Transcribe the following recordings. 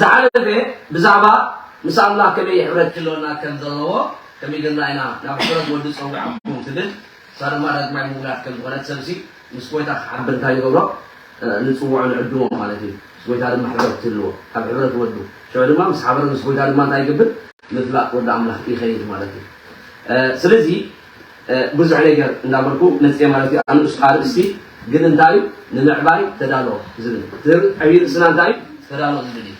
ዝዓለገ ብዛዕባ ምስ ኣምላኽ ከመይ ሕብረት ክህልወና ከም ዘለዎ ከሚገና ኢና ናብ ሕብረት ወዲ ጸዊዓኩም ትብል እሳ ድማ ዳግማይ ምውላድ ከም ዝኾነት ሰብሲ ምስ ጎይታ ክሓብር እንታይ ንገብሮ ንጽውዖ ንዕድሞ ማለት እዩ ምስ ጎይታ ድማ ሕብረት ትህልዎ ካብ ሕብረት ወዱ ሽዑ ድማ ምስ ሓበረ ምስ ጎይታ ድማ እንታይ ይገብር ምፍላጥ ወዲ ኣምላኽ ይኸይድ ማለት እዩ ስለዚ ብዙሕ ነገር እንዳበልኩ መጽየ ማለት እዩ ኣንኡስ ኣርእስቲ ግን እንታይ እዩ ንምዕባይ ተዳሎ ዝብል እቲ ዕብይ ርእስና እንታይ እዩ ተዳሎ ዝብል እዩ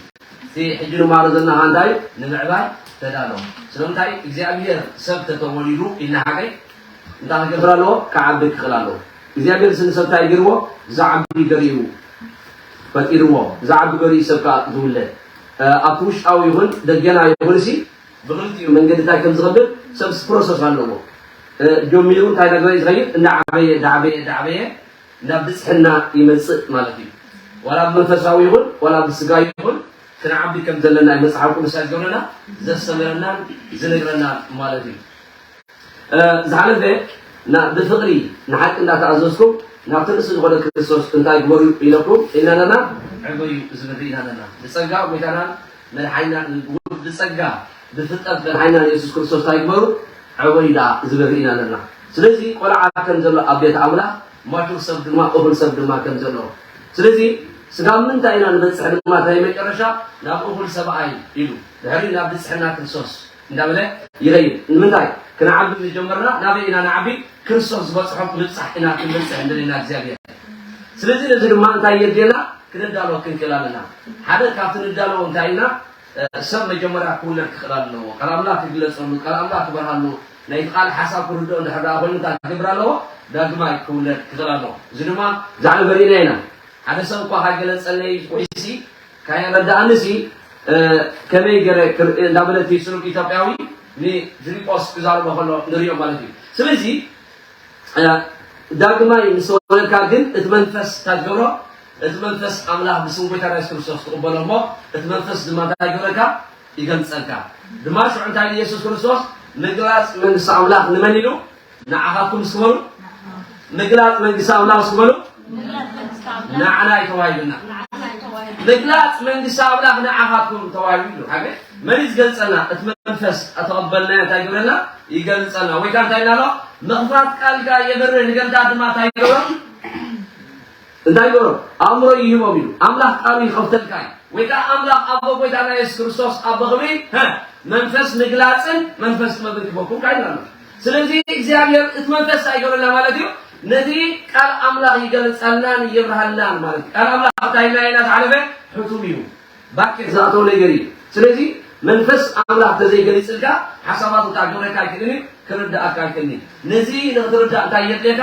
እቲ ሕጂ ንማሃሮ ዘለና ከኣ እንታይ እዩ ንምዕባይ ተዳሎ ስለምንታይ እዩ እግዚኣብሄር ሰብ ተተወሊዱ ኢልና ሓቀይ እንታይ ክገብር ኣለዎ ክዓቢ ክኽእል ኣለዎ እግዚኣብሄር ስንሰብ እንታይ ገርዎ ዝዓቢ ገርዩ ፈጢርዎ ዝዓቢ ገርዩ ሰብ ከኣ ዝውለድ ኣብቲ ውሽጣዊ ይኹን ደገና ይኹን እሲ ብኽልቲኡ መንገድታት ከም ዝኸብር ሰብስ ፕሮሰስ ኣለዎ። ጆሚሩ እንታይ እናገበረ እዩ ዝኸይድ? እናዓበየ እናዓበየ እናዓበየ ናብ ብጽሕና ይመጽእ ማለት እዩ። ዋላ ብመንፈሳዊ ይኹን ዋላ ብስጋ ይኹን ክንዓቢ ከም ዘለና እዩ መጽሓፍ ቅዱስ እንታይ ዝገብረና? ዘስተምረናን ዝነግረናን ማለት እዩ። ዝሓለፈ ናብ ብፍቕሪ ንሓቂ እንዳተኣዘዝኩም ናብቲ ርእሲ ዝኾነ ክርስቶስ እንታይ ግበሩ ኢለኩም ኢልና ነርና? ዕበዩ ዝብል ርኢና ነርና። ብጸጋ ጎይታናን መድሓኒናን ብጸጋ ብፍልጠት መድሓኒናን የሱስ ክርስቶስ እንታይ ግበሩ ዕበዩ ደኣ ዝብል ርኢና ነርና። ስለዚ ቆልዓ ከም ዘሎ ኣብ ቤት ኣምላኽ ማቹር ሰብ ድማ እኹል ሰብ ድማ ከም ዘሎ ስለዚ ስጋብ ምንታይ ኢና ንበጽሕ ድማ እንታይ መጨረሻ ናብ እኹል ሰብኣይ ኢሉ ድሕሪኡ ናብ ንጽሕና ክርስቶስ እንዳበለ ይኸይድ። ንምንታይ? ክንዓቢ ምስ ጀመርና ናበይ ኢና ንዓቢ? ክርስቶስ ዝበጽሖ ምብጻሕ ኢና ክንበጽሕ እንደልየና እግዚኣብሄር። ስለዚ ነዚ ድማ እንታይ የድልየና? ክንዳሎ ክንክእል ኣለና። ሓደ ካብቲ ንዳለዎ እንታይ ኢልና? ሰብ መጀመርያ ክውለድ ክኽእል ኣለዎ። ቃል ኣምላኽ ክግለጸሉ፣ ቃል ኣምላኽ ክበርሃሉ፣ ናይቲ ቃል ሓሳብ ክርድኦ እንድሕር ደኣ ኮይኑ እንታይ ክገብር ኣለዎ? ዳግማይ ክውለድ ክኽእል ኣለዎ። እዚ ድማ ብዛዕባ መሪእና ኢና። ሓደ ሰብ እኳ ካይገለጸለይ ወይሲ፣ ካየ ረዳኣኒ ሲ ከመይ ገረ ክርኢ እንዳበለ እቲ ስኑድ ኢትዮጵያዊ ንፊሊጶስ ክዛረቦ ከሎ ንሪኦ ማለት እዩ ስለዚ ዳግማይ ምስ ተወለድካ ግን እቲ መንፈስ እንታይ ትገብሮ እቲ መንፈስ ኣምላኽ ብስም ጎይታና የሱስ ክርስቶስ ትቕበሎ እሞ እቲ መንፈስ ድማ እንታይ ይገብረካ ይገልጸልካ ድማ ሽዑ እንታይ ኢየሱስ ክርስቶስ ምግላጽ መንግስቲ ኣምላኽ ንመን ኢሉ ንዓኻትኩም እስኪ በሉ ምግላፅ መንግስቲ ኣምላኽ እስኪ በሉ ንዓና እዩ ተዋሂብና ምግላፅ መንግስቲ ኣምላኽ ንዓኻትኩም ተዋሂቡ እዩ ሓገ መን እዩ ዝገልፀልና እቲ መንፈስ ተቐበልናዮ እንታይ ይገብረና ይገልፀና ወይ ከዓ እንታይ ኢልና ኣሎ ምኽፋት ቃልካ የብርህ ንገምታት ድማ እንታይ ይገብሮም እንታይ በሎም? ኣእምሮይ ይህቦም ኢሉ። ኣምላኽ ቃሉ ይኸፍተልካ እዩ። ወይ ከኣ ኣምላኽ ኣቦ ጎይታና የሱስ ክርስቶስ ኣብ በኽሪ፣ ሀ፣ መንፈስ ምግላጽን መንፈስ ጥበብን ክህበኩምካ ኢሉና ኣሎ። ስለዚ እግዚኣብሔር እቲ መንፈስ እንታይ ይገብረልና ማለት እዩ? ነቲ ቃል ኣምላኽ ይገልጸልናን የብርሃልናን ማለት እዩ። ቃል ኣምላኽ ኣብታ ህላየና ዝሓለፈ ሕቱም እዩ። ባኬት ዝኣተወ ነገር እዩ። ስለዚ መንፈስ ኣምላኽ እንተዘይገሊጽልካ ሓሳባቱ ከኣ ክገብረካ ኣይክእልን እዩ፣ ክርድኣካ ኣይክእልን እዩ። ነዚ ንኽትርዳእ እንታይ የድልየካ?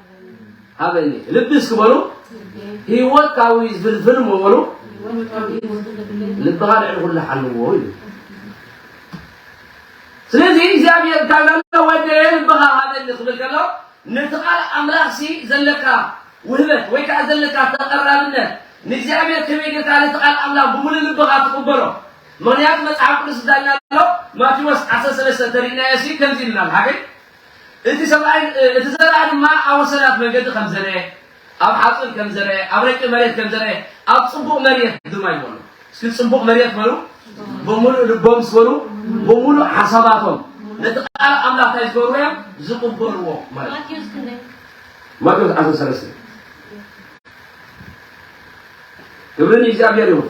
ሃበኒ ልቢ እስኪ በሉ ህይወትካዊ ዝብል ፍልም በሉ ልብኻ ልዕሊ ኩሉ ሓልዎ እዩ ስለዚ እግዚኣብሔር እንታይ ብላሎ ወደ ልብኻ ሃበኒ ክብል ከሎ ነቲ ቃል ኣምላኽሲ ዘለካ ውህበት ወይ ከዓ ዘለካ ተቐራብነት ንእግዚኣብሔር ከመይ ጌርካ ነቲ ቃል ኣምላኽ ብምሉእ ልብኻ ትቕበሎ ምክንያቱ መፅሓፍ ቅዱስ እንታይ ኢልና ኣሎ ማቴዎስ ዓሰርተ ሰለስተ ተሪእናዮ ሲ ከምዚ ኢሉና ሓገይ እቲ ሰብኣይ እቲ ዘርኣ ድማ ኣብ ወሰናት መንገዲ ከም ዘርኤ፣ ኣብ ሓጹር ከም ዘርኤ፣ ኣብ ረቂቕ መሬት ከም ዘርኤ፣ ኣብ ጽቡቕ መሬት ድማ እዩ በሉ። እስኪ ጽቡቕ መሬት በሉ። ብምሉእ ልቦምስ በሉ። ብምሉእ ሓሳባቶም ነቲ ቃል ኣምላኽ እንታይ ዝገብርዎ እዮም? ዝቕበልዎ ማለት እዩ። ማቴዎስ ክንደይ? ማቴዎስ ዓሰርተ ሰለስተ ክብሪ ንእግዚኣብሔር ይኹን።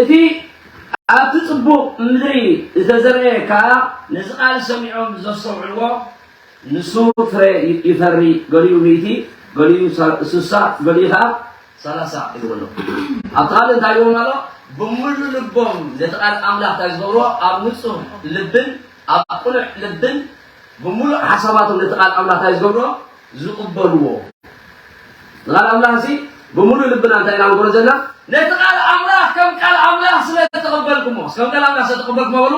እቲ ኣብቲ ጽቡቕ ምድሪ ዝተዘርኤ ከኣ ነዚ ቃል ሰሚዖም ዘስተውዕልዎ ንሱ ፍረ ይፈሪ፣ ገሊኡ ሚእቲ፣ ገሊኡ ስሳ፣ ገሊኡ ከኣ ሰላሳ ይህብ ኣሎ። ኣብቲ ካልእ እንታይ ይብሎም ኣሎ? ብምሉእ ልቦም ነቲ ቃል ኣምላኽ እንታይ ዝገብርዎ ኣብ ንጹህ ልብን ኣብ ቕኑዕ ልብን ብምሉእ ሓሳባቶም ነቲ ቓል ኣምላኽ ታይ ዝገብሮ? ዝቕበልዎ። ንቓል ኣምላኽሲ ብምሉእ ልብና እንታይ ኢና ንገብሮ ዘለና? ነቲ ቓል ኣምላኽ ከም ቃል ኣምላኽ ስለ ዝተቐበልኩሞ፣ እስከ ከም ቃል ኣምላኽ ስለ ዝተቐበልኩሞ በሉ፣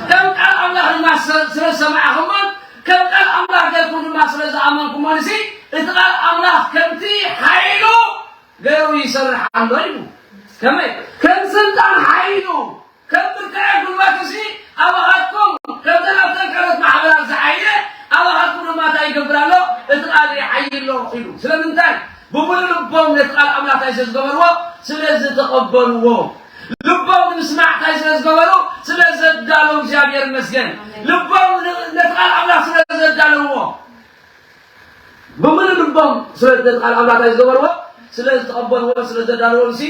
ከም ቃል ኣምላኽ ድማ ስለ ዝሰማዕኹሞን ከም ቃል ኣምላኽ ጌርኩም ድማ ስለ ዝኣመንኩሞንሲ እቲ ቓል ኣምላኽ ከምቲ ሓይሉ ገይሩ ይሰርሕ ኣሎ ኢሉ። ከመይ? ከም ስልጣን ሓይሉ። ከም ብርታዔ ጉልባትሲ ኣባኻትኩም ከምተን ኣብተን ካልኦት ማሕበራት ዝዓየ ኣባኻትኩም ድማ እንታይ ይገብር ኣሎ እቲ ቃል ይዓዪ ኣሎ ኢሉ ስለምንታይ ብምሉእ ልቦም ነቲ ቃል ኣምላኽ እንታይ ስለዝገበርዎ ስለዝተቐበልዎ ልቦም ንምስማዕ እንታይ ስለዝገበሩ ስለዘዳለው እግዚኣብሔር ይመስገን ልቦም ነቲ ቃል ኣምላኽ ስለዘዳለውዎ ብምሉእ ልቦም ነቲ ቃል ኣምላኽ እንታይ ዝገበርዎ ስለዝተቐበልዎ ስለዘዳለዎም ሲ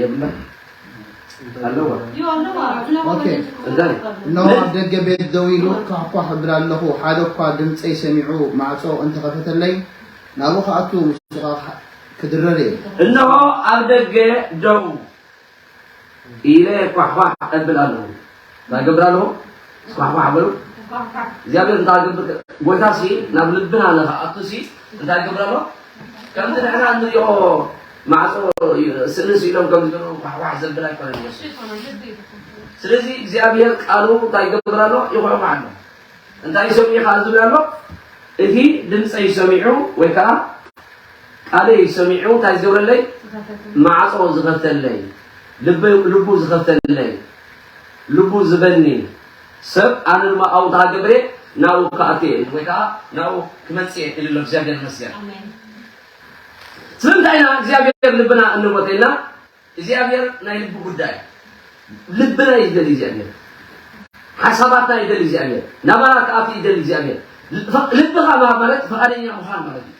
የብላን ኣለዋ እነሆ ኣብ ደገ ቤት ደው ኢሉ ኳሕኳሕ እብል ኣለኹ ሓደ እኳ ድምፀይ ሰሚዑ ማዕፆ እንተኸፈተለይ ናብኡ ክኣቱ ምስኻ ክድረር እየ እነሆ ኣብ ደገ ደው ኢለ ኳሕኳሕ እብል ኣለኹ እንታይ ገብር ኣለዎ ስኳሕኳሕ በሉ እግዚኣብሔር እንታይ ገብር ጎይታ ሲ ናብ ልብና ንክኣቱ ሲ እንታይ ገብር ኣለዎ ከምቲ ንሕና እንሪኦ ማዕፆ ስእሊ ስኢሎም ከም ዝገበሩ ኳሕኳሕ ዘብል ኣይኮነን ኢየሱስ ስለዚ እግዚኣብሔር ቃሉ እንታይ ገብር ኣሎ ይኹሕኳሕ ኣሎ እንታይ ይሰምዑ ከዓ ዝብል ኣሎ እቲ ድምፀይ ሰሚዑ ወይ ከዓ ቃለይ ሰሚዑ እንታይ ዝገብረለይ ማዕፆ ዝኸፍተለይ ልቡ ዝኸፍተለይ ልቡ ዝበኒ ሰብ ኣነ ድማ ኣብኡ ድኣ ገብሬ ናብኡ ክኣቱ እየ ወይ ከኣ ናብኡ ክመጽእ እየ ኢሉ ኣሎ እግዚኣብሔር ይመስገን ስለምንታይ ኢና እግዚኣብሔር ልብና እንሞተ ኢልና እግዚኣብሔር ናይ ልቢ ጉዳይ ልብና እዩ ዝደሊ እግዚኣብሔር ሓሳባትና ይደሊ እግዚኣብሔር ናባና ክኣቱ ይደሊ እግዚኣብሔር ልብኻ ምሃብ ማለት ፈቃደኛ ምዃን ማለት እዩ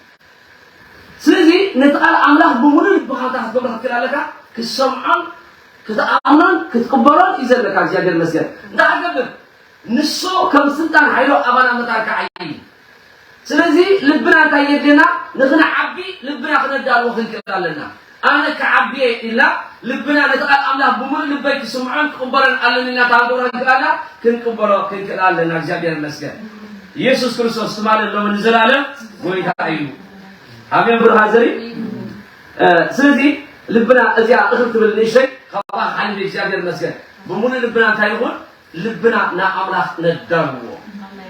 ስለዚ ነቲ ቃል ኣምላኽ ብምሉእ ልብኻ እንተ ክትገብሮ ክትክእል ኣለካ፣ ክትሰምዖን ክትኣምኖን ክትቅበሎን እዩ ዘለካ እግዚኣብሔር ይመስገን እንተ ኣገብር ንሱ ከም ስልጣን ሓይሉ ኣባና መታን ክዓይ እዩ። ስለዚ ልብና እንታይ የድልየና ንክንዓቢ ልብና ክነዳልዎ ክንክእል ኣለና። ኣነ ክዓቢ እየ ኢልና ልብና ነቲ ቃል ኣምላኽ ብምሉእ ልበይ ክስምዖን ክቕበሎን ኣለኒ ኢልና ተኣምሮ ኣግኣና ክንቅበሎ ክንክእል ኣለና እግዚኣብሔር ይመስገን ኢየሱስ ክርስቶስ ትማልን ሎምን ንዘላለም ጎይታ እዩ ኣሜን ብሩሃ ዘሪ ስለዚ ልብና እዚኣ እኽል ትብል ንእሽተይ ካብኣ ሓሊፍ እግዚኣብሔር ይመስገን ብምሉእ ልብና እንታይ ንኹን ልብና ንኣምላኽ ነዳልዎ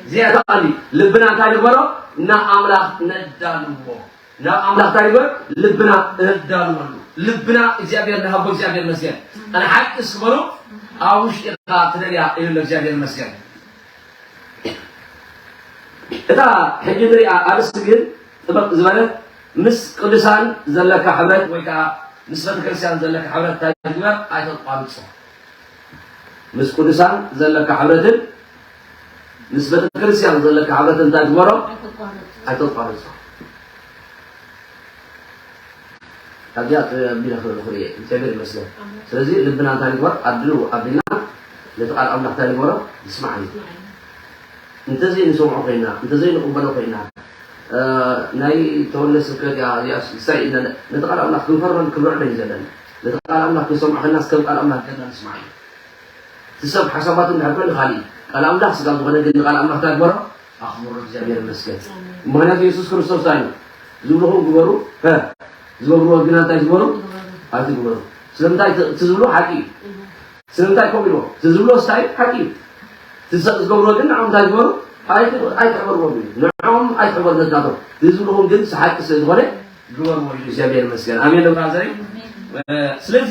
እዚኣ ተቃሊ ልብና እንታይ ንግበሮ ንኣምላኽ ነዳልዎ ናብ ኣምላኽ ታይ ንግበር ልብና እዳልወሉ ልብና እግዚኣብሔር ንሃቦ እግዚኣብሔር መስገን ኣነ ሓቂ ስበሎ ኣብ ውሽጢኻ ትደልያ ኢሉ እግዚኣብሔር መስገን እታ ሕጂ ንሪኣ ኣርስቲ ግን ጥበቅ ዝበለት ምስ ቅዱሳን ዘለካ ሕብረት ወይ ከዓ ምስ ቤተክርስትያን ዘለካ ሕብረት ታይ ንግበር ኣይተቋርጾ ምስ ቅዱሳን ዘለካ ሕብረትን ምስ ቤተክርስትያን ዘለካ ሕብረት እንታይ ግበሮ ኣይተቋርጾ ኣብዚኣ ቢለ ክርኢ ክርኢ እግዚኣብሔር ይመስገን ስለዚ ልብና እንታይ ንግበር ኣድሉ ኣቢልና ነቲ ቃል ኣምላኽ እንታይ ንግበሮ ንስማዕ እዩ እንተዘ ንሰምዖ ኮይና እንተዘይ ንቕበሎ ኮይና ናይ ተወለ ስብከት እያ እዚኣ ሳይ ኢልና ነቲ ቃል ኣምላኽ ክንፈርም ክንርዕዶ እዩ ዘለና ነቲ ቃል ኣምላኽ ክንሰምዖ ከለና ከም ቃል ኣምላኽ ገና ንስማዕ እዩ እቲ ሰብ ሓሳባቱ እንድሕር ኮን ንካልእ እዩ ቃል ኣምላኽ ስጋ ዝኾነ ግን ንቃል ኣምላኽ እንታይ ግበሮ ኣኽብሮ እግዚኣብሔር ይመስገን ምክንያቱ የሱስ ክርስቶስ እንታይ ኢሉ ዝብልኹም ግበሩ ሀ ዝገብርዎ ግና እንታይ ትግበሩ ኣይትግበሩ ስለምንታይ እቲ እቲ ዝብልዎ ሓቂ እዩ ስለምንታይ ከምኡ ኢልዎ እቲ ዝብልዎ ስታይ እዩ ሓቂ እዩ እቲ ሰብ ዝገብርዎ ግን ንዕኦም እንታይ ግበሩ ኣይት- ኣይትሕበርዎም እዩ ንዕኦም ኣይትሕበሩ ነትናቶም እዚ ዝብልኹም ግን ሓቂ ስለ ዝኾነ ግበርዎ ኢሉ እግዚኣብሔር ይመስገን ኣሜን ዶ ብራዘረይ ስለዚ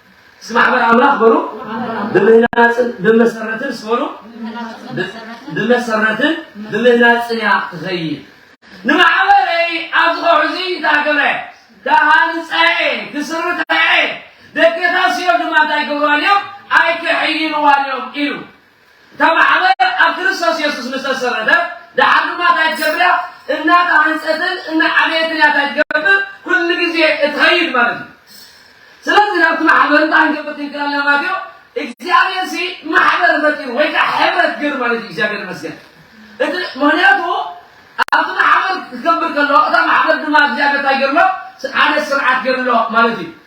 እስኪ ማሕበር ኣምላኽ በሉ ብምህናፅን ብመሰረትን ስበሉ ብመሰረትን ብምህናፅን እያ ትኸይድ ንማሕበረይ ኣብዚ ከውሒ እዚ ተኣገብረ ክሃንፀዐ ክስርተዐ ደገታስዮ ድማ እንታይ ይገብርዋን እዮም ኣይክሕይልዋን እዮም ኢሉ እታ ማሕበር ኣብ ክርስቶስ የሱስ ምስ ተሰረተት ደሓር ድማ እንታይ ትገብር እያ? እናተሃንጸትን እናዓበየትን እያ እንታይ ትገብር? ኩሉ ግዜ እትኸይድ ማለት እዩ። ስለዚ ናብቲ ማሕበር እንታይ ክንገብር ክንክእል ኣለና ማለት እዩ? እግዚኣብሔርሲ ማሕበር ፈጢሩ ወይ ከዓ ሕብረት ገይሩ ማለት እዩ። እግዚኣብሔር ይመስገን። እቲ ምክንያቱ ኣብቲ ማሕበር ክገብር ከሎ እታ ማሕበር ድማ እግዚኣብሔር እንታይ ገይሩ ኣሎ? ሓደ ስርዓት ገይሩ ኣሎ ማለት እዩ።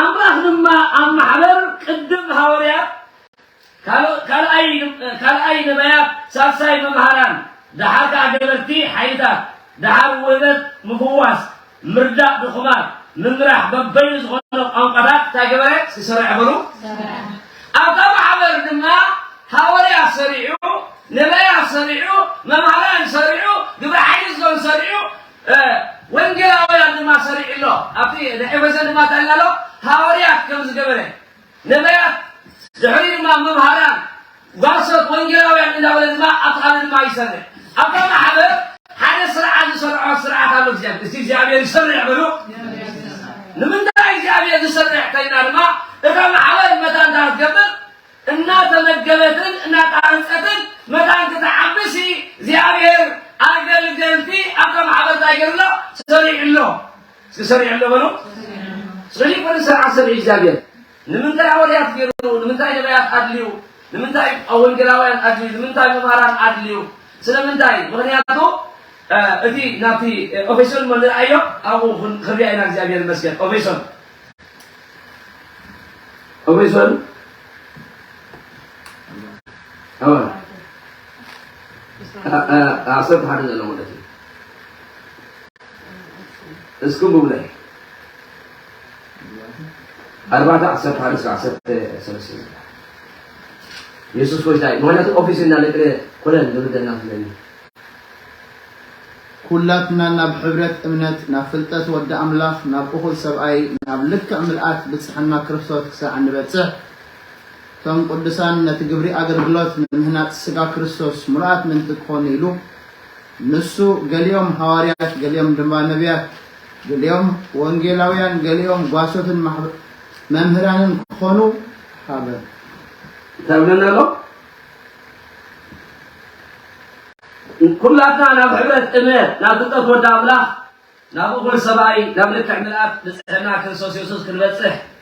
ኣምላኽ ድማ ኣብ ማሕበር ቅድም ሃወርያት ካልኣይ ካልኣይ ነባያት ሳልሳይ መምሃራን ደሓር ከኣ ገበርቲ ሓይልታት ደሓር ውህበት ምፍዋስ ምርዳእ ድኹማት ምምራሕ በበይኑ ዝኾነ ቋንቋታት እንታይ ገበረ ዝሰረዐ በሉ ሰረዐ። ኣብታ ማሕበር ድማ ሃወርያት ሰሪዑ፣ ነበያት ሰሪዑ፣ መማህራን ሰሪዑ፣ ግብረ ሓይሊ ዞን ሰሪዑ፣ ወንጌላውያን ድማ ሰሪዑ ኣሎ። ኣብቲ ኤፌሶን ድማ እንታይ ኢልና ኣሎ? ሃወርያት ከም ዝገበረ፣ ነበያት ድሕሪኡ ድማ መምሃራን፣ ጓሶት፣ ወንጌላውያን እንዳበለ ድማ ኣብቲ ካልእ ድማ ይሰርዕ። ኣብታ ማሕበር ሓደ ስርዓት ዝሰርዖ ስርዓት ኣሎ እግዚኣብሔር እስቲ እግዚኣብሔር ይሰርዕ በሉ ንምንታይ እግዚኣብሔር ዝሰርዕ ተይና ድማ እታ ማሕበር መታን ታትገብር እናተመገበትን እናጣንፀትን መታን ክትዓብሲ እግዚኣብሔር ኣገልገልቲ ኣብታ ማሕበር ታይ ገርሎ ሰሪዕሎ እስኪ ሰሪዕሎ በሉ ስለዚህ ኮነ ስርዓት ሰሪዕ እግዚኣብሔር ንምንታይ ኣወልያት ገሩ ንምንታይ ነብያት ኣድልዩ ንምንታይ ወንገላውያን ኣድልዩ ንምንታይ መምሃራን ኣድልዩ ስለምንታይ ምክንያቱ እቲ ናብቲ ኦፌሶን እሞ ንርኣዮ ኣብኡ ክንሪኣ ኢና እግዚኣብሔር ይመስገን ኦፌሶን ኦፌሶን ኣወል ዓሰርተ ሓደ ዘሎ ማለት እዩ እስኩም ብብለይ ኣርባዕተ ዓሰርተ ሓደ እስከ ዓሰርተ ሰለስተ ዝብሃል የሱስ ጎይታ እዩ ምክንያቱ ኦፊስ እና ለቅለ ኮለን ዝብደና ስለኒ ኩላትና ናብ ሕብረት እምነት ናብ ፍልጠት ወዲ ኣምላኽ ናብ እኹል ሰብኣይ ናብ ልክዕ ምልኣት ብጽሕና ክርስቶት ክሳዕ እንበጽሕ እቶም ቅዱሳን ነቲ ግብሪ ኣገልግሎት ንምህናጽ ስጋ ክርስቶስ ምሉኣት ምንቲ ክኾኑ ኢሉ ንሱ ገሊኦም ሃዋርያት ገሊኦም ድማ ነቢያት ገሊኦም ወንጌላውያን ገሊኦም ጓሶትን ማሕበ መምህራንን ክኾኑ ሃበ። እንታይ ይብለና ኣሎ? ኩላትና ናብ ሕብረት እመ ናብ ፍልጠት ወዲ ኣምላኽ ናብ እኹል ሰብኣይ ናብ ልክዕ ምልኣት ንጽሕና ክርስቶስ የሱስ ክንበጽሕ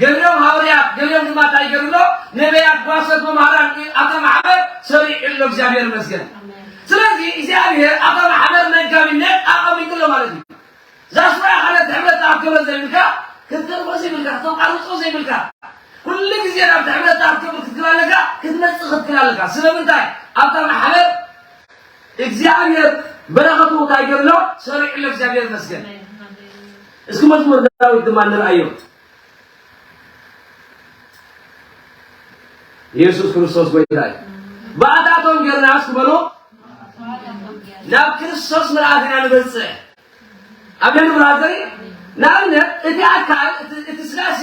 ገሊኦም ሃወርያት ገሊኦም ድማ ታይ ገሩ ኣሎ ነበያት ጓሶት መምሃራን እ ኣታ ማሕበር ሰሪዑ ኣሎ እግዚኣብሔር መስገን ስለዚ እግዚኣብሔር ኣታ ማሕበር መጋቢነት ኣቐሚጡ ኣሎ ማለት እዩ ዛስራ ሓነት ሕብረት ተኣከበ ዘይብልካ ክትተርፎ ዘይብልካ ተቋርጾ ዘይብልካ ኩሉ ግዜ ናብ ሕብረት ተኣከበ ክትክል ኣለካ ክትመጽእ ክትክል ኣለካ ስለምንታይ ኣታ ማሕበር እግዚኣብሔር በረከቱ ታይ ገሩ ኣሎ ሰሪዑ ኣሎ እግዚኣብሔር መስገን እስኪ መዝሙር ዳዊት ድማ ንርኣዮ። ኢየሱስ ክርስቶስ ጎይታ እዩ። ብኣታቶም ጌርና እስኪ በሎ ናብ ክርስቶስ ምልኣት ኢና ንበፅሕ። ኣሜን ብራዘሪ። ንኣብነት እቲ ኣካል እቲ ስጋሲ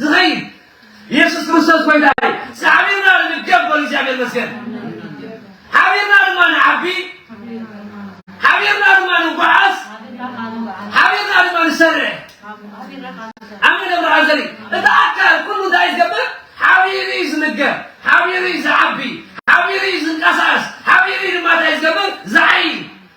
ዝኸይድ ኢየሱስ ክርስቶስ ጎይታ እዩ። ሳዕቢርና ንድገፍ በሉ እግዚኣብሔር መስገን ሓቢርና ድማ ንዓቢ ሓቢርና ድማ ንጓዓዝ ሓቢርና ድማ ንሰርሕ ኣሜን ብርሃን ዘሪ እቲ ኣካል ኩሉ እንታይ ዝገብር ሓቢሩ እዩ ዝምገብ ሓቢሩ እዩ ዝዓቢ ሓቢሩ እዩ ዝንቀሳቀስ ሓቢሩ እዩ ድማ እንታይ ዝገብር ዝዓይ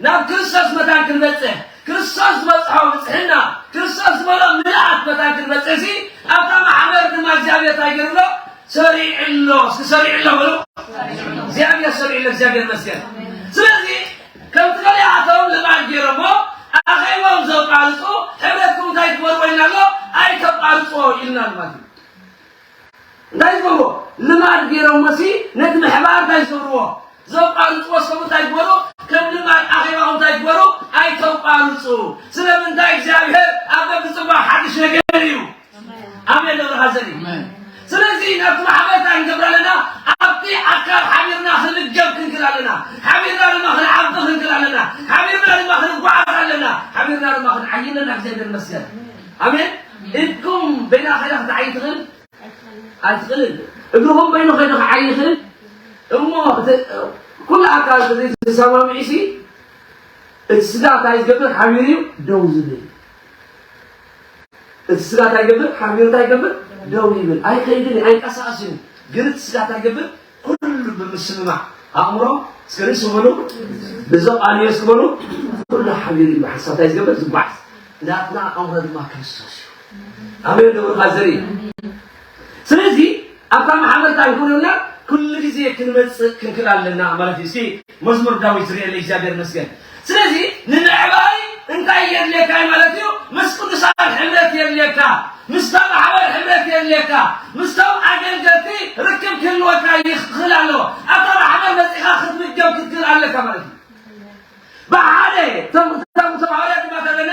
ናብ ክርስቶስ መታን ክንበጽሕ፣ ክርስቶስ ዝበጽሖ ብጽሕና፣ ክርስቶስ ዝበሎ ምልኣት መታን ክንበጽሕሲ፣ ኣብታ ማሕበር ድማ እግዚኣብሔር እንታይ ገይሩ ኣሎ? ሰሪዑ ኣሎ። እስኪ ሰሪዑ ኣሎ በሉ። እግዚኣብሔር ሰሪዑ ኣሎ። እግዚኣብሔር ይመስገን። ስለዚ ከምቲ ገሊኣቶም ልማድ ገይሮሞ ኣኼቦም ዘቋርጹ ሕብረትኩም እንታይ ትበልዎ ኢልና ኣሎ? ኣይተቋርጽዎ ኢልና ኣሎ ማለት እዩ። እንታይ ዝገብርዎ ልማድ ጌሮሞሲ ነቲ ምሕባር እንታይ ዝገብርዎ ዘቋርጽዎ ሰቡ እንታይ ግበሩ ከም ልማድ ኣኼባኹም እንታይ ግበሩ ኣይተቋርጹ ስለምንታይ እግዚኣብሔር ኣብ በብጽባ ሓድሽ ነገር እዩ ኣሜን ደብረ ሓዘን እዩ ስለዚህ ናብቲ ማሕበር እንታይ ንገብር ኣለና ኣብቲ ኣካል ሓቢርና ክንገብ ክንክል ኣለና ሓቢርና ድማ ክንዓቢ ክንክል ኣለና ሓቢርና ድማ ክንጓዓዝ ኣለና ሓቢርና ድማ ክንዓይ ኣለና እግዚኣብሔር ይመስገን ኣሜን እድኩም በይና ከይዳ ክትዓይ ትክእል ኣይትክእልን እግርኩም በይኑ ከይዱ ክዓይ ይክእል እሞ እቲ ኩሉ ኣካል ተዘይ ተሰማሚዑ ሲ እቲ ስጋ እንታይ ዝገብር ሓሚሩ እዩ ደው ዝብል እቲ ስጋ እንታይ ይገብር ሓሚሩ እንታይ ይገብር ደው ይብል ኣይከይድን እዩ ኣይንቀሳቀስን እዩ ግን እቲ ስጋ እንታይ ይገብር ኩሉ ብምስምማዕ ኣእምሮ እስከ ንሱ በሉ ንዞ ቃልዮ እስኪ በሉ ኩሉ ሓቢሩ እዩ ሓሳብ እንታይ ዝገብር ዝጓዓዝ ናትና ኣእምሮ ድማ ክርስቶስ እዩ ኣበዮ ደብርካ ዘርኢ ስለዚ ኣብታ ማሕበርታ ይኹንና ኩሉ ግዜ ክንመፅእ ክንክእል ኣለና ማለት እዩ መዝሙር ዳዊት ዝርኤለይ እግዚኣብሔር ይመስገን ስለዚ ንምዕባይ እንታይ የድልየካ እዩ ማለት እዩ ምስ ቅዱሳን ሕብረት የድልየካ ምስታ ማሕበር ሕብረት የድልየካ ምስቶም ኣገልገልቲ ርክብ ክህልወካ ይኽእል ኣለዎ ኣብታ ማሕበር መፂኻ ክትምገብ ክትክእል ኣለካ ማለት እዩ ብሓደ እቶም እቶም ሐዋርያት ድማ ተለና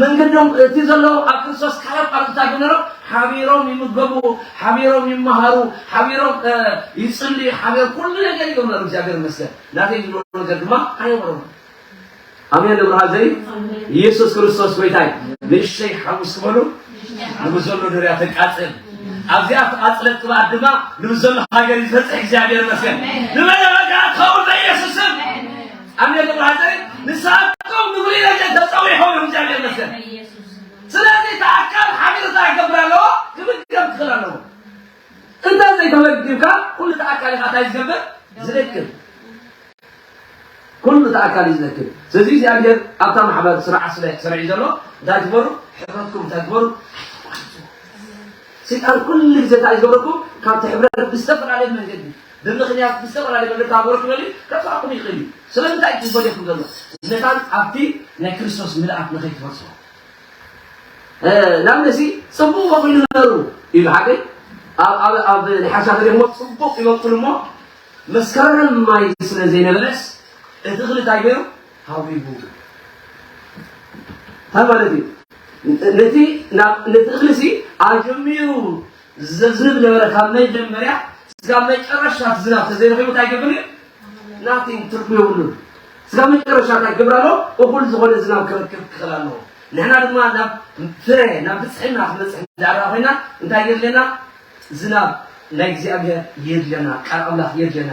መንገዶም እቲ ዘሎ ኣብ ክርስቶስ ካልኦት ቃልታት ብነሮ ሓቢሮም ይምገቡ ሓቢሮም ይመሃሩ ሓቢሮም ይጽልዩ ሓቢሮም ኩሉ ነገር እዮም ነሩ እግዚኣብሔር ይመስገን ናተይ ዝብሎ ነገር ድማ ኣይነበሮም ኣሜን ንብርሃን ዘይ ኢየሱስ ክርስቶስ ጎይታይ ንእሽተይ ሓሙስ ክበሉ ንብዘሎ ድርያ ተቃጽል ኣብዚኣ ተቃጽለት ቅብኣት ድማ ንብዘሎ ሃገር ይዘርፅሕ እግዚኣብሔር ይመስገን ንመደበጋ ትኸውን በኢየሱስም ኣሜን ተባረክ ንሳቶም ንፍሉይ ደረጃ ተጸዊዖም እዮም እግዚኣብሔር ይመስገን ስለዚ እቲ ኣካል ሓቢሩ እንታይ ክገብር ኣለዎ ክምገብ ክኽእል ኣለዎ እንተ ዘይተመግብካ ኩሉ እቲ ኣካል ኢኻ እንታይ ዝገብር ዝረክብ ኩሉ እቲ ኣካል እዩ ዝረክብ ስለዚ እግዚኣብሔር ኣብታ ማሕበር ስርዓት ስለ ሰሪዑ ዘሎ እንታይ ትበሩ ሕብረትኩም እንታይ ትበሩ ሰይጣን ኩሉ ግዜ እንታይ ዝገብረኩም ካብቲ ሕብረት ብዝተፈላለየ መንገዲ ብምኽንያት ብዝተፈላለዩ መንገዲ ተሃገሩ ክበል'ዩ፣ ከጥፍኣኩም ይኽእል እዩ። ስለምንታይ እዩ ዝፈድየኩም ዘሎ? መታን ኣብቲ ናይ ክርስቶስ ምልኣት ንኸይትበጽሑ። ንኣብነትሲ ጽቡቕ ኸኺሉ ንበሩ ኢሉ ሓገይ ኣብ ኣብ ናይ ሓርሻ ፈርዮ እሞ ጽቡቕ ይበቁል እሞ መስከረም ማይ ስለ ዘይነበረስ እቲ እኽሊ እንታይ ገይሩ ሃዊቡ እንታይ ማለት እዩ ነቲ ነቲ እኽሊሲ ኣጀሚሩ እዚ ዘዝንብ ዝነበረ ካብ መጀመርያ ስጋብ መጨረሻ እቲ ዝናብ ተዘይረኺቡ እንታይ ይገብር እዩ? ናቲንግ ትርጉም የብሉን። ስጋብ መጨረሻ እንታይ ክገብር ኣለዎ? እኹል ዝኾነ ዝናብ ክረክብ ክኽእል ኣለዎ። ንሕና ድማ ናብ ፍረ ናብ ብፅሕና ክንበፅሕ እንዳርኣ ኮይና እንታይ የድልየና? ዝናብ ናይ እግዚኣብሔር የድልየና፣ ቃል ኣምላኽ የድልየና።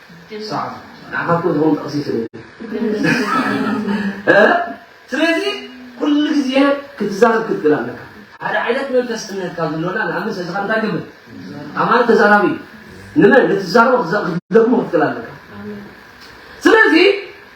ሰዓቱ ንዓኻትኩም ዝኸውን ጥቕሲ ስለዚ ኩሉ ግዜ ክትዛረብ ክትክእል ኣለካ ሓደ ዓይነት መንፈስ እምነት ካብ ዝሎና ንኣብነት እዚ ካብ እንታይ ግብር ኣማን ተዛራቢ ንመን ንትዛረቦ ክትደግሞ ክትክእል ኣለካ ስለዚ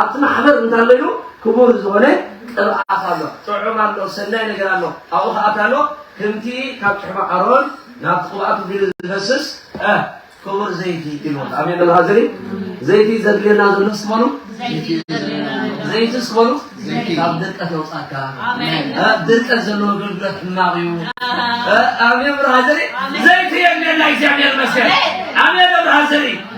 ኣብቲ ማሕበር እንታይ ኣሎ ኢሉ ክቡር ዝኾነ ቅብኣት ኣሎ፣ ጥዑም ኣሎ፣ ሰናይ ነገር ኣሎ፣ ኣብኡ ኸኣ እንታይ ኣሎ፣ ክምቲ ካብ ጭሕሙ ኣሮን ናብቲ ቅብኣቱ ቢሉ ዝፈስስ እ ክቡር ዘይቲ ኢልዎ። ኣሜን በሉ ሃዘኒ። ዘይቲ ዘድልየና ዘሎ እስቲ በሉ ዘይቲ እስቲ በሉ ካብ ድርቀት የውጻካ። እ ድርቀት ዘለዎ ኣገልግሎት ሕማቕ እዩ። እ ኣሜን በሉ ሃዘኒ። ዘይቲ የድልየና እግዚኣብሔር ይመስገን። ኣሜን በሉ ሃዘኒ።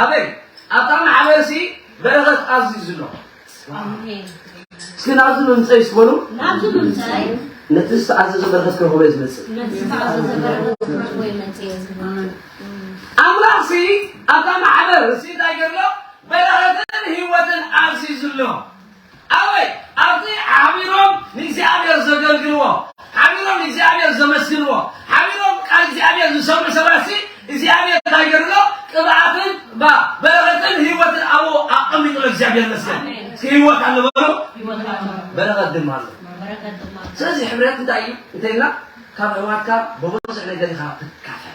ኣሜን ኣብታ ማሕበር ሲ በረኸት ኣዚዙ ኣሎ እስኪ ናብዚ ምምፀይ እስኪ በሉ ነቲ ዝተኣዘዘ በረኸት ክረኽቦ እየ ዝመፅእ ኣምላኽ ሲ ኣብታ ማሕበር ሲ እንታይ ገርሎ በረኸትን ህይወትን ኣዚዙ ኣሎ ኣበይ? ኣብቲ ሓቢሮም ንእግዚኣብሄር ዘገልግልዎ፣ ሓቢሮም ንእግዚኣብሄር ዘመስግንዎ፣ ሓቢሮም ቃል እግዚኣብሄር ዝሰምዑ ሰባትሲ እግዚኣብሄር እንታይ ገይሩ ኣሎ? ቅብኣትን ብ በረኸትን ህይወትን ኣብኡ ኣቐሚጡ ኣሎ። እግዚኣብሄር ይመስገን። እስኪ ህይወት ኣሎ በሉ፣ በረኸት ድማ ኣሎ። ስለዚ ሕብረት እንታይ እዩ እንተኢልና ካብ ኣሕዋትካ ብብዙሕ ነገር ኢኻ ትካፈል።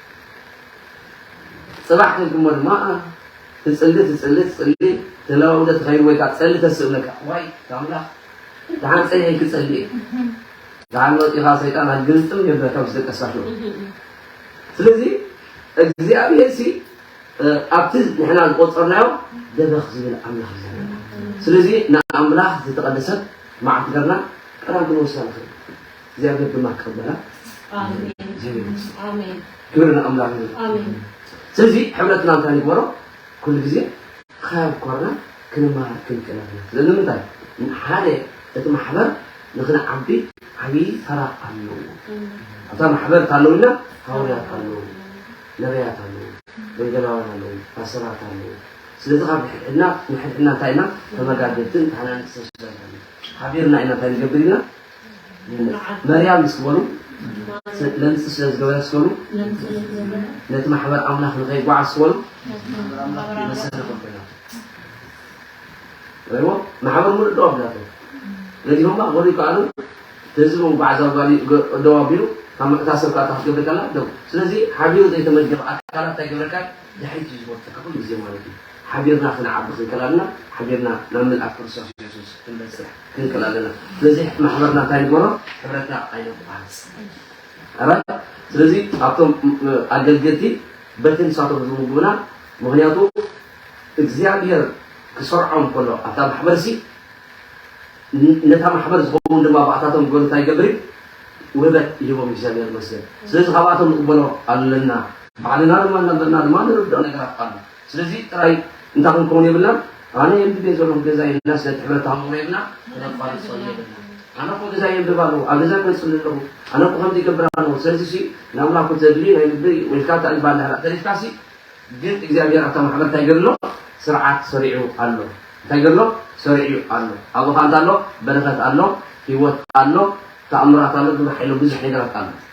ጽባሕ ከይኩሞ ድማ ትጽሊ ትጽሊ ትጽሊ ተለዋውጠ ትኸይድ ወይ ካብ ጸሊ ተስእነካ ዋይ ኣምላኽ ደሓን ጸኒሐይ ክጸሊ እየ ደሓን ወጢኻ ሰይጣን ኣግልጥም የብለካ ምስ ደቀሳቱ ስለዚ እግዚኣብሔር ሲ ኣብቲ ንሕና ዝቆፀርናዮ ደበኽ ዝብል ኣምላኽ እዩ ዘለና ስለዚ ንኣምላኽ ዝተቐደሰት መዓልቲ ገርና ቀዳም ክንወስዳ ንኽእል እግዚኣብሔር ድማ ክቅበላ እግዚኣብሔር ይመስገን። ኣሜን ክብሪ ንኣምላኽ ይሁን። ኣሜን ስለዚ ሕብረትና እንታይ ንግበሮ ኩሉ ግዜ ካብ ኮርና ክንመሃር ክንክእል ኣለና ስለዚ ንምንታይ ሓደ እቲ ማሕበር ንክንዓቢ ዓብዪ ተራ ኣለዎ ኣብታ ማሕበር እታ ኣለውና ሃዋርያት ኣለዉ ነቢያት ኣለዉ ወንጌላውያን ኣለዉ ፓስተራት ኣለዉ ስለዚ ካብ ንሕድሕድና ንሕድሕድና እንታይ ኢና ተመጋገብትን ተሓናንፅን ስለዝኾነ ሓቢርና ኢና እንታይ ንገብር ኢና መርያም ምስ ዝበሉ ለምፂ ስለ ዝገበረ ምስ በሉ ነቲ ማሕበር ኣምላኽ ንኸይጓዓዝ ምስ በሉ መሰረ ከበላ ወይሞ ማሕበር ሙሉእ ደው ኣብላቶ ነቲ ድማ ወዲ ከኣሉ ህዝቡ ባዕዛ ጓሊ ደው ኣቢሉ ካብ ምዕታ ሰብ ካታ ክትገብር ከላ ደው ስለዚ ሓቢሩ ዘይተመደበ ኣካላት እንታይ ገብረካ ድሕሪት እዩ ዝወርተካ ኩሉ ግዜ ማለት እዩ ሓቢርና ክንዓቢ ክንከላልና ሓቢርና ናብ ምልኣት ክርስቶስ የሱስ ክንበፅሕ ክንቅል ኣለና ስለዚ ማሕበርና እንታይ ንግበሮ ሕብረትና ኣይነቋርፅ ኣራ ስለዚ ኣብቶም ኣገልገልቲ በቲ ንሳቶም ዝምግቡና ምክንያቱ እግዚኣብሔር ክሰርዖም ከሎ ኣብታ ማሕበር ሲ ነታ ማሕበር ዝኸውን ድማ ብኣታቶም ዝበሉ እንታይ ይገብር እዩ ውህበት ይህቦም እግዚኣብሔር መስገን ስለዚ ካብኣቶም ንቕበሎ ኣለና ባዕልና ድማ እናበልና ድማ ንርድኦ ነገራት ኣሎ ስለዚ ጥራይ እንታይ ክንከውን የብልናን ኣነ የንብብ እየ ዘለኹ ገዛይ እና ስለ ትሕብረት ተሃውኹ የብልና ክነቋርፅ ጸሉ የብልና ኣነ እኮ ገዛ የንብብ ኣለኹ ኣብ ገዛ ክመፅእ ኣለኹ ኣነ እኮ ከምዚ ይገብር ኣለኹ ስለዚ ሲ ንኣምላኩ ዘድልዩ ናይ ልቢ ወይልካ ተእልባ እንዳህራ ተሪፍካ ሲ ግን እግዚኣብሔር ኣብታ ማሕበር እንታይ ገድሎ ስርዓት ሰሪዑ ኣሎ እንታይ ገድሎ ሰሪዑ ኣሎ ኣብኡ ከ እንታይ ኣሎ በረከት ኣሎ ህይወት ኣሎ ተኣምራት ኣሎ ግብረ ሓይሎ ብዙሕ ነገራት ኣሎ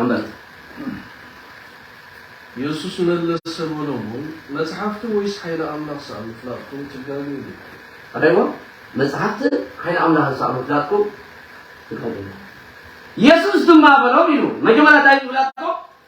ኣመት የሱስ መለሰ በሎም እውን መጽሓፍቲ ወይስ ሓይሊ ኣምላኽ ሰኣ ምፍላጥኩም ትጋሉ ኢሉ ኣዳይሞ መጽሓፍቲ ሓይሊ ኣምላኽ ሰኣ ምፍላጥኩም ትጋሉ ኢሉ የሱስ ድማ በሎም ኢሉ መጀመርያ እንታይ ምፍላጥኩም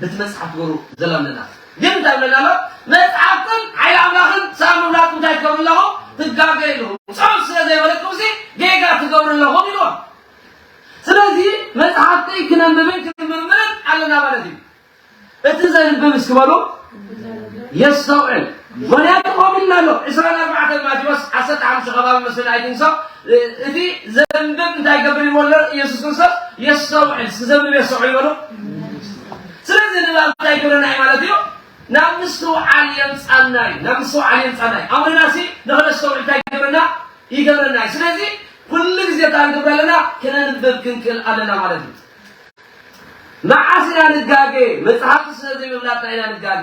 በቲ መጽሓፍ ትገብሩ ዘላ ምልላስ ግን እንታይ ይብለና ኣሎ መጽሓፍትን ሓይሊ ኣምላኽን ሰኣን ምብላጥ እንታይ ትገብሩ ኣለኹም ትጋገዩ ኣለኹም ጾም ስለ ዘይበለኩምሲ ጌጋ ትገብሩ ኣለኹም ኢልዎም ስለዚ መጽሓፍተይ ክነንብብን ክምርምርን ኣለና ማለት እዩ እቲ ዘንብብ እስኪ በሉ የስተውዕል ምኽንያቱ ከምኡ ኢልና ኣሎ፣ ዕስራን ኣርባዕተን ማቴዎስ ዓሰርተ ሓሙሽተ ከባቢ መስለኒ ኣይትንሶ፣ እቲ ዘንብብ እንታይ ይገብር ኢልዎ ኣሎ ኢየሱስ ክርስቶስ፣ የስተውዕል፣ እስኪ ዘንብብ የስተውዕል በሉ። ስለዚ ንባብ እንታይ ይገብረና እዩ ማለት እዩ? ናብ ምስትውዓል የምጻና እዩ፣ ናብ ምስትውዓል የምጻና እዩ። ኣምርና ሲ ንኽነስተውዕል እንታይ ይገብረና? ይገብረና እዩ። ስለዚ ኩሉ ግዜ እንታይ ክንገብር ኣለና? ክነንብብ ክንክእል ኣለና ማለት እዩ። መዓስ ኢና ንጋገ? መጽሓፍቲ ስለ ዘይምፍላጥና ኢና ንጋገ።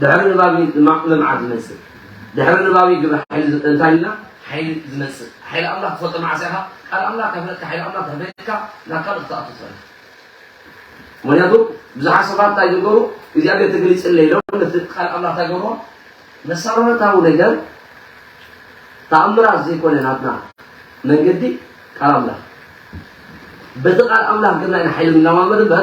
ድሕሪ ንባብ እዩ ድማ ልምዓት ዝመፅእ። ድሕሪ ንባብ እዩ ግብረ ሓይሊ ዝ- እንታይ ኢልና ሓይሊ ዝመፅእ። ሓይሊ ኣምላኽ ትፈልጦ መዓስ ኢኻ? ቃል ኣምላኽ ከፍለጥካ ሓይሊ ኣምላኽ ተሕበጥካ ናብ ካልእ ክትኣቱ ትኽእል። ምክንያቱ ብዙሓት ሰባት እንታይ ዝገሩ እግዚኣብሔር ትግሊፅለይ ኢሎም ነቲ ቃል ኣምላኽ እንታይ ገብርዎ መሰረታዊ ነገር ተኣምራት ዘይኮነ ናትና መንገዲ ቃል ኣምላኽ በቲ ቃል ኣምላኽ ግና ኢና ሓይሊ ንለማመድ እምበር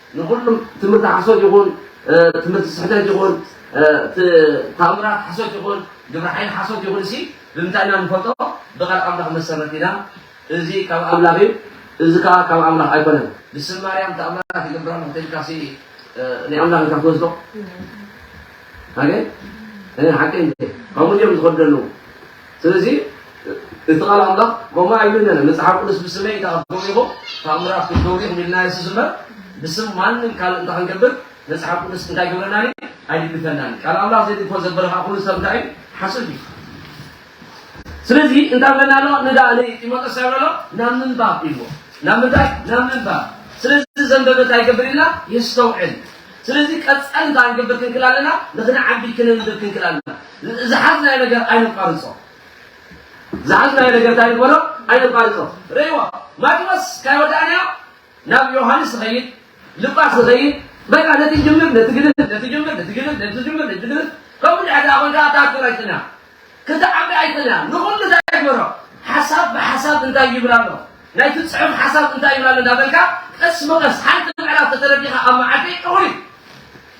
ንኹሉም ትምህርቲ ሓሶት ይኹን ትምህርቲ ስሕተት ይኹን ተኣምራት ሓሶት ይኹን ግብረ ሓይሊ ሓሶት ይኹን እሲ ብምንታይ ኢና ንፈልጦ? ብቃል ኣምላኽ መሰረት ኢና እዚ ካብ ኣምላኽ እዩ እዚ ከዓ ካብ ኣምላኽ ኣይኮነን። ብስም ማርያም ተኣምራት ይገብር ኣለኹ ተልካ ሲ ናይ ኣምላኽ ኢልካ ትወስዶ ኣገ ሓቂ ከምኡ እዮም ዝኸዱ ዘለዉ ስለዚ እቲ ቃል ኣምላኽ ከምኡ ኣይብልናን። መጽሓፍ ቅዱስ ብስመይ እንተ ኣትጎቢኹም ተኣምራት ክትገብሩ ኢኹም ኢልና የሱስ እምበር ብስም ማንም ካልእ እንተ ክንገብር መጽሓፍ ቅዱስ እንታይ ገብረናን እዩ ኣይድግፈናን። ቃል ኣምላኽ ዘይድግፎ ዘበለ ከዓ ኩሉ ሰብ እንታይ እዩ ሓሶት እዩ። ስለዚ እንታይ ብለና ኣሎ ንዳ ንጢሞቴዎስ እንታይ ብለሎ ናብ ምንባብ ኢልዎ ናብ ምንታይ ናብ ምንባብ ስለዚ ዘንበበ እንታይ ይገብር ኢልና የስተውዕል ስለዚ ቀፃሊ እንታይ ክንገብር ክንክል ኣለና ንክንዓቢ ክነንብብ ክንክል ኣለና ዝሓዝናዮ ነገር ኣይነቋርጾ ዝሓዝናዮ ነገር እንታይ ንበሎ ኣይነቋርጾ ርእይዎ ማቴዎስ ካይ ወዳእናዮ ናብ ዮሃንስ ንኸይድ ልጳስ ንኸይድ በቃ ነቲ ጅምር ነቲ ግድር ነቲ ጅምር ነቲ ግድር ነቲ ጅምር ነቲ ግድር ከምኡ ድሕሪ ደኣ ኮንካ እታ ኣክተር ኣይትንያ ክትዓቢ ኣይትንያ ንኹሉ እንታይ ግበሮ ሓሳብ ብሓሳብ እንታይ ይብል ኣሎ ናይቲ ፅሑፍ ሓሳብ እንታይ ይብል ኣሎ እንዳበልካ ቀስ ብቐስ ሓንቲ ምዕራፍ ተተረዲኻ ኣብ መዓልቲ እኹል እዩ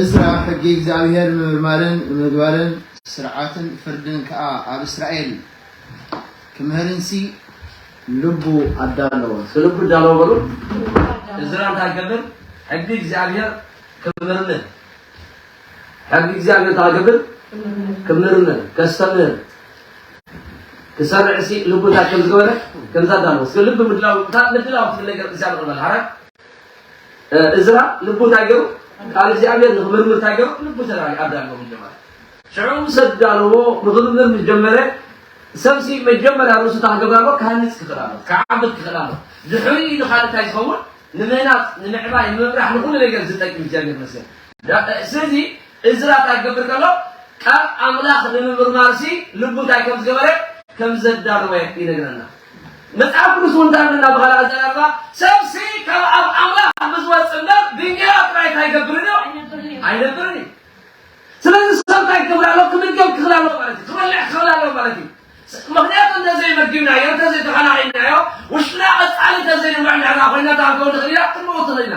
እዝራ ሕጊ እግዚኣብሄር ንምርማርን ንምግባርን፣ ስርዓትን ፍርድን ከኣ ኣብ እስራኤል ክምህርንሲ፣ ልቡ ኣዳለወ። እስከ ልቡ ኣዳለወ በሉ። እዝራ እንታይ ክገብር? ሕጊ እግዚኣብሄር ክምርምር። ሕጊ እግዚኣብሔር ታገብር ክምርምር ከስተምህር ክሰርዕ ሲ ልቡታት ከም ዝገበረ ከምዛ ዳልወስ ልቢ ምድላው ምድላው ትብል ነገር እግዚኣብሔር ቅበል ሓራ እዝራ ልቡ እንታይ ገሩ ቃል እግዚኣብሔር ንክምርምር እንታይ ገሩ ልቡ ተራሪ ኣዳልዎ ምጀመረ ሽዑ ሰብ ዳልዎ ንክምርምር ምጀመረ ሰብሲ መጀመርያ ርእሱ ታገብር ኣሎ ክሃንፅ ክኽእል ኣሎ ክዓብድ ክኽእል ኣሎ ድሕሪ ኢሉ ካልእ እንታይ ዝኸውን ንምህናፅ ንምዕባይ ንምብራሕ ንኩሉ ነገር ዝጠቅም እግዚኣብሔር መስገን ስለዚ እዝራ እንታይ ክገብር ከሎ ቃል ኣምላኽ ንምምርማርሲ ልቡ እንታይ ከም ዝገበረ ከም ዘዳለወ ይነግረና። መጽሓፍ ቅዱስ እውን እንታይ ይብለና ብኻልእ ኣዘራርባ ሰብሲ ካብ ኣብ ኣምላኽ ብዝወጽእ እምበር ብእንጌራ ጥራይ እንታይ ይገብርን እዩ ኣይነብርን እዩ። ስለዚ ሰብ እንታይ ክገብር ኣለዎ ክምገብ ክኽል ኣለዎ ማለት እዩ ክበልዕ ክኽል ኣለዎ ማለት እዩ ምክንያቱ እንተዘይመጊብናዮ እንተዘይተኸናኺንናዮ ውሽጥና ቐጻሊ እንተዘይንብዕ ንሕና ኮይና እታ ክንከውን ንኽእል ኢና ክንመውት ንኽእል ኢና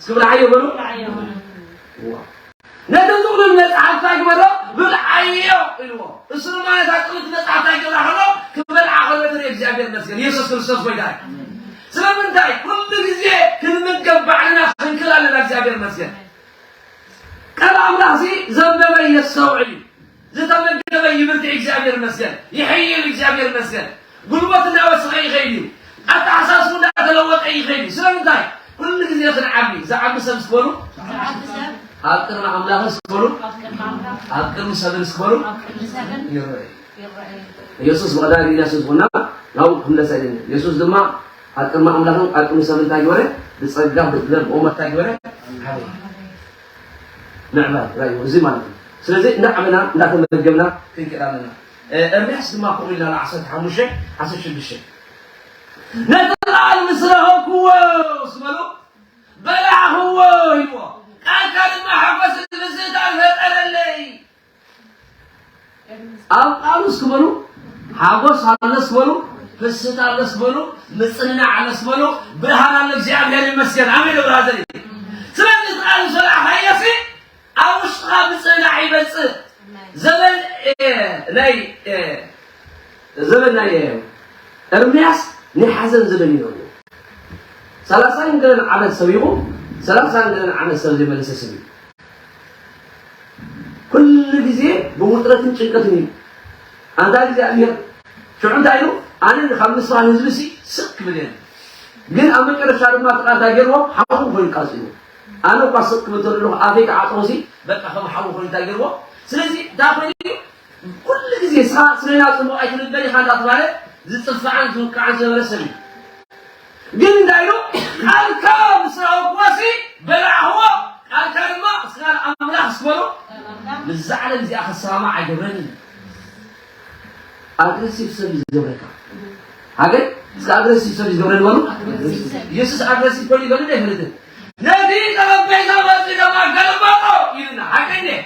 እስኪ ብርዓዮ በሉ ነቲ ጥቕሉል መጽሓፍ እንታይ ግበሮ ብርዓዮ ኢልዎ እሱ ድማ ነታ ጥቕሉል መጽሓፍ እንታይ ገብራ ከሎ ክበልዓ ከሎ ትርኢ እግዚኣብሔር ይመስገን ኢየሱስ ክርስቶስ ጎይታ እዩ ስለምንታይ ኩሉ ግዜ ክንምገብ ባዕልና ክንክል ኣለና እግዚኣብሔር ይመስገን ቃል ኣምላኽ ሲ ዘንበበ የስተውዕል እዩ ዝተመገበ ይብርትዕ እግዚኣብሔር ይመስገን ይሕይል እግዚኣብሔር ይመስገን ጉልበት እናወሰኸ ይኸይድ እዩ ኣተሓሳስቡ እንዳተለወጠ ይኸይድ እዩ ስለምንታይ ኩሉ ግዜ ክንዓቢ ዝዓቢ ሰብ ስክበሉ ኣብ ቅድሚ ኣምላኽ ስክበሉ ኣብ ቅድሚ ሰብን ስክበሉ ይረአ ኢየሱስ ወዳድ ኢየሱስ ሆና ናው ክምለሰኝ ኢየሱስ ድማ አቅም አምላክን አቅም ሰብን ታይወረ ብጸጋ ብጥበብ ኦመት ታይወረ ምዕባል ራእዩ እዚ ማለት እዩ። ስለዚ እንዳዓበና እንዳተመገብና ክንከድ ኣለና። ኤርምያስ ድማ ከምኡ ኢልና ን ዓሰርተ ሓሙሽተ ዓሰርተ ሽዱሽተ ነቲ ቃል ምስ ረኸብክዎ ዝበሎ በላዕኽዎ ኢልዎ ቃልካ ድማ ሓጎስን ምስህታን ፈጠረለይ ኣቃሉስ ክበሉ ሓጎስ ኣለስ በሉ ፍስት ኣለስ በሉ ምጽንናዕ ኣለስ በሉ ብርሃን ኣለ እግዚኣብሔር ይመስገን ኣሜን ብራዘር ስለዚ ቃል ዝለዓኻየሲ ኣብ ውሽጥኻ ምጽንናዕ ይበጽእ ዘበን ናይ ዘበን ናይ እርምያስ ናይ ሓዘን ዘበን እዩ ነሩ ሰላሳን ገለን ዓመት ሰቢኹ ሰላሳን ገለን ዓመት ሰብ ዘይመለሰ ስብ እዩ ኩሉ ግዜ ብውጥረትን ጭንቀትን እዩ ኣንታ እግዚኣብሔር ሽዑ እንታይ ኢሉ ኣነ ካብ ንስኻ ንህዝቢ ሲ ስቅ ክብል እየ ግን ኣብ መጨረሻ ድማ እቲ ቃል እንታይ ገይርዎ ሓዊ ኮይኑ ቃፂሉ ኣነ እኳ ስቅ ክብል ተለኹ ኣፌ ክዓፅሮ ሲ በቃ ከም ሓዊ ኮይኑ እንታይ ገይርዎ ስለዚ እንታይ ኮይኑ ኩሉ ግዜ ሰባት ስለና ጽቡቕ ኣይትንበል ኢኻ እንዳተባህለ ዝጽፋዕን ዝውቃዕን ዝነበረ ሰብ እዩ። ግን እንታይ ኢሉ ቃልካ ምስ ረኸብኩዋሲ በላዕኽዎ ቃልካ ድማ ምስ ቃል ኣምላኽ ምስ በሎ ምስዛ ዓለም እዚኣ ክሰማማዕ ኣይገብረን እዩ። ኣግረሲቭ ሰብ እዩ ዝገብረካ ኣገን እስከ ኣግረሲቭ ሰብ እዩ ዝገብረኒ በሉ። ኢየሱስ ኣግረሲቭ ኮይኑ ይበልዶ ኣይፈልጥን ነቲ ጠረጴዛ በጺሖም ኣገልበጦ ኢልና ሓቂ እንድየ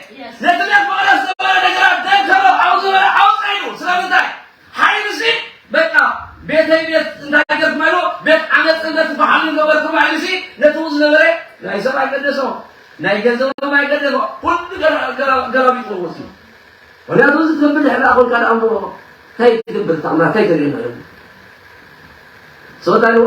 ነቲ ቤት መቕደስ ዝነበረ ነገራት ደከሎ ዓው ዝበለ ዓው ጸይዱ ስለምንታይ ሓይሉሲ በቃ ቤተይ ቤት እንታይ ገርኩም ኢሉ ቤት ዓመጽን ነቲ በሓሉን ገበርኩም ሓይሉሲ ነቲ ው ዝነበረ ናይ ሰብ ኣይገደሶ ናይ ገንዘቦም ኣይገደሶ ኩሉ ገላቢጡ ወሲዱ ምክንያቱ እዚ ትብል ድሕሪ ኣ ኮንካ ደኣ እሞ እንታይ ትገብር ተቕማ እንታይ ተርእየና ሰወት ኣለዎ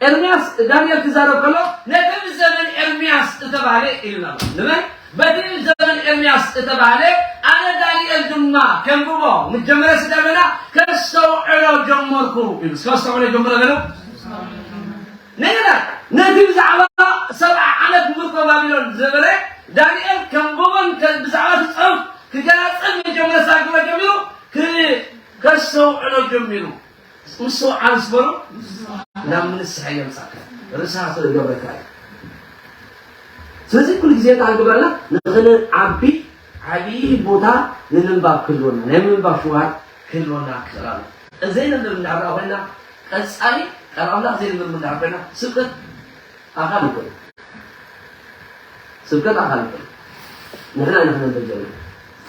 ኤርምያስ ንዳንኤል ክዛረብ ከሎ ነቲ ብ ዘበን ኤርምያስ እተባህለ ኢልና ኣሎ። ንበል በቲ ብ ዘበን ኤርምያስ እተባህለ ኣነ ዳንኤል ድማ ከንብቦ ምጀመረ ስደመና ከስተውዕሎ ጀመርኩ ኢሉ እስከ ኣስተውዕሎ ጀመረ በሉ። ነገራት ነቲ ብዛዕባ ሰብዓ ዓመት ምርኮ ባቢሎን ዝነበረ ዳንኤል ከንብቦን ብዛዕባ እቲ ጽሑፍ ክገላጽን ምጀመረ ሳግሮ ጀሚሩ ከስተውዕሎ ጀሚሩ ምስትውዓል ዝበሎ ናብ ምንስሐ የምጻካ ርሳ ስለ ዝገብረካ እዩ ስለዚ ኩሉ ግዜ እንታይ ግበረና ንክንዓቢ ዓብዪ ቦታ ንምንባብ ክህልወና ናይ ምንባብ ሽውሃት ክህልወና ክኽእል ኣሎ እዘይንብብ እንዳርኣ ኮይና ቀጻሊ ቃል ኣምላኽ ዘይንብብ እንዳር ኮይና ስቅጥ ኣካል ይኹን ስብከት ኣካል ይኹን ንሕና ኢና ክነብር ዘለና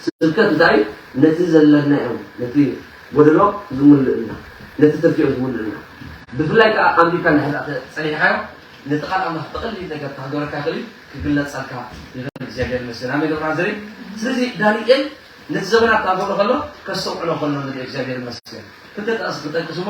ስብከት እንታይ ነቲ ዘለናዮም ነቲ ጎደሎ ዝምልእልና ነቲ ትርፊኦ ዝምልእልና ብፍላይ ከዓ ኣንቢብካ ንሕዛ ፀኒሕካዮ ነቲ ቃል ኣምላኽ ብቐሊል ነገር ተሃገረካ ይኽእል እዩ ክግለፀልካ ይኽእል እግዚኣብሔር ይመስገን ኣሜን ደብራ ዘሪ ስለዚ ዳንኤል ነቲ ዘመናት እናገብረ ከሎ ከስተውዕሎ ከሎ ንሪኦ እግዚኣብሔር ይመስገን ክልተ ጠቕሲ ክጠቅስ እሞ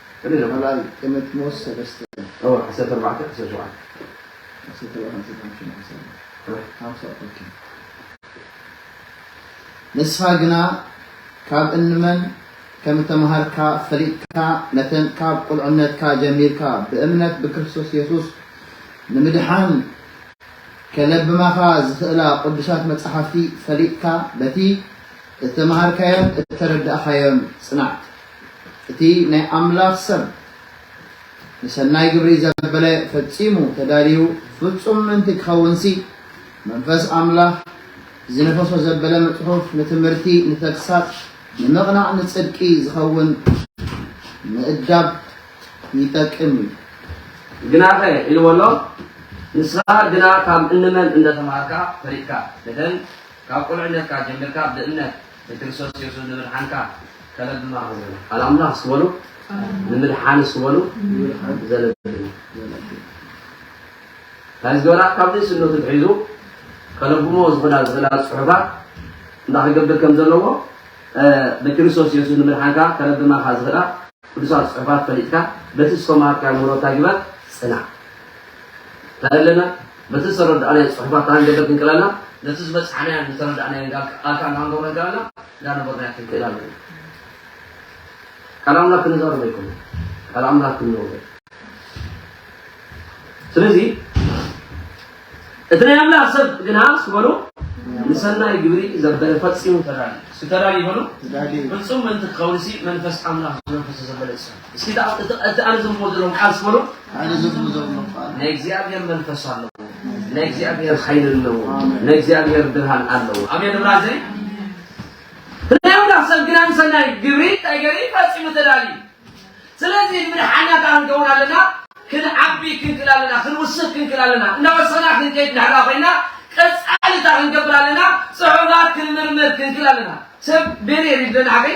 ቅድሚ ቃልኣይ ጢሞቲሞስ ሰለስተ። እወ ዓሰርተ ኣርባዕተ ዓሰርተ ሸውዓተ። ዓሰርተ ኣርባዕተ ዓሰርተ ሓምሽተ ዓሰርተ ኣርባዕተ ሓምሳ ኦኬ። ንስኻ ግና ካብ እንመን ከም እተመሃርካ ፈሊጥካ ነተን ካብ ቁልዕነትካ ጀሚርካ ብእምነት ብክርስቶስ የሱስ ንምድሓን ከለብማኻ ዝኽእላ ቅዱሳት መጻሕፍቲ ፈሊጥካ በቲ እተመሃርካዮን እተረዳእካዮን ጽናዕ። እቲ ናይ ኣምላኽ ሰብ ንሰናይ ግብሪ ዘበለ ፈጺሙ ተዳልዩ ፍጹም ምእንቲ ኪኸውንሲ፣ መንፈስ ኣምላኽ ዚነፈሶ ዘበለ ንጽሑፍ፣ ንትምህርቲ፣ ንተግሳጽ፣ ንምቕናዕ፣ ንጽድቂ ዚኸውን ምእዳብ ይጠቅም እዩ። ግናኸ ኢልዎ ኣሎ፣ ንስኻ ግና ካብ እንመን እንደ ተማሃርካ ፈሊጥካ፣ እተን ካብ ቍልዕነትካ ጀሚርካ ብእምነት ንክርስቶስ የሱስ ንምድሓንካ ከለብማ ክብሉ ቃል ኣምላኽ ስበሉ ንምድሓን ስበሉ ዘለብም እንታይ ዝገበራ ካብ ንእስነቱ ትሒዙ ከለብሞ ዝኽእላ ዝኽእላ ፅሑፋት እንዳ ክገብር ከም ዘለዎ ንክርስቶስ የሱስ ንምድሓንካ ከለብማካ ዝኽእላ ቅዱሳት ፅሑፋት ፈሊጥካ በቲ ዝተማሃርካዮ ምህሮታ ግበር ፅናዕ ተእለመ በቲ ዝተረዳእናዮ ጽሑፋት ታን ገለ ክንክለላ ነቲ ዝበጽሓናዮን ዝተረዳእናዮን ጋል ኣካን ታን ገብረ ጋልና እንዳ ነበርናዮ ክንክእላ ኣለና። ቃል ኣምላክ ክንዛረብ ኣይኮነ ቃል ኣምላክ ክንነብሮ ስለዚ እቲ ናይ ኣምላኽ ሰብ ግና ስበሉ ንሰናይ ግብሪ ዘበለ ፈጺሙ ተዳልዩ ተዳልዩ በሉ ፍጹም ምእንቲ ክኸውን ሲ መንፈስ ኣምላኽ ዝነፈሰ ዘበለ ሰብ እስኪ እታ እቲ እቲ ኣነ ዘንብቦ ዘለኹ ቃል ስበሉ። ኣነ ዘንብቦ ዘለኹ ቃል ናይ እግዚኣብሔር መንፈስ ኣለዎ፣ ናይ እግዚኣብሔር ሓይሊ ኣለዎ፣ ናይ እግዚኣብሔር ብርሃን ኣለዎ። ኣሜን ብላ ዘይ ስለዚ ሰብ ግና ንሰናይ ግብሪ እንታይ ገሪ ፈፂሙ ተዳልዩ። ስለዚ ንምድሓናት ክንከውን ኣለና፣ ክንዓቢ ክንክል ኣለና፣ ክንውስኽ ክንክል ኣለና፣ እናወሰና ክንከይድ ንሕላ ኮይና ቀፃልታ ክንገብር ኣለና፣ ፅሑፋት ክንምርምር ክንክል ኣለና። ሰብ ቤሬ ሪድለና ሓገይ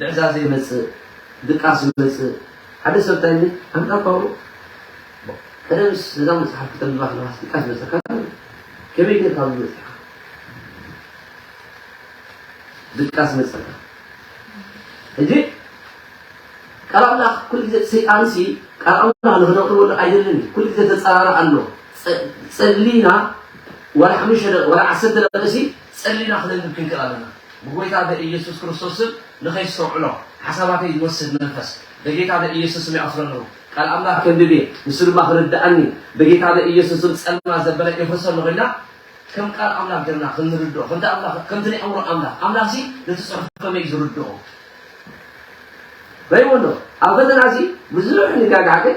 ልዕዛዘ ይመጽእ ድቃስ ይመጽእ ሓደ ሰብ ታይ ይብል ኣንታ ፓውሎ ቀደምስ ነዛ መጽሓፍ ክተንብባ ከለካስ ድቃስ ይመጸካ ከመይ ጌርካ ኣብዚ በጺሕካ ድቃስ ይመጸካ ሕጂ ቃል ኣምላኽ ኩሉ ግዜ ሰይጣንሲ ቃል ኣምላኽ ንክነቕርበሉ ኣይደልን ኩሉ ግዜ ተጸራሪ ኣሎ ጸሊና ወላ ሓሙሽተ ወላ ዓሰርተ ደቂሲ ጸሊና ክንንብብ ክንክእል ኣለና። ብጐይታ በኢየሱስ ክርስቶስ ስም ንኸይስተውዕሎ ሓሳባተይ ዝወስድ መንፈስ በጌታ በኢየሱስ ስም ይኣስሮ ኣለኹ። ቃል ኣምላኽ ከንብብ እየ ንሱ ድማ ክርድኣኒ በጌታ በኢየሱስ ስም ጸልማት ዘበለ የፍርሶ ኣለኹ ኢልና ከም ቃል ኣምላኽ ጌርና ክንርድኦ ከምቲ ኣምላኽ ከምቲ ናይ ኣእምሮ ኣምላኽ ኣምላኽሲ ነቲ ጽሑፍ ከመይ እዩ ዝርድኦ ራይዎ ኣሎ። ኣብ ፈተና እዚ ብዙሕ ንጋግሓ ግን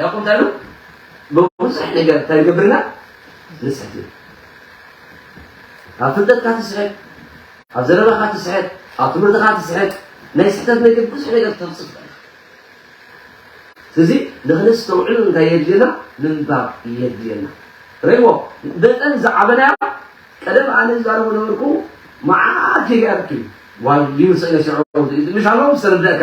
ያቁጠሉ ብቡዙሕ ነገር ተግብርና ንጽሕት እዩ ኣብ ፍልጠትካ ትስሕት ኣብ ዘረባኻ ትስሕት ኣብ ትምህርትኻ ትስሕት ናይ ስሕተት ነገር ብዙሕ ነገር ተብጽፍ ስለዚ ንክነስተውዕሉ እንታይ የድልየና ምንባብ የድልየና ረይዎ መጠን ዝዓበና ቀደም ኣነ ዝዛረቡ ነበርኩ መዓት ይገርክ ዋዩ ሰነ ሽዑ ምሻሎም ዝተረዳእካ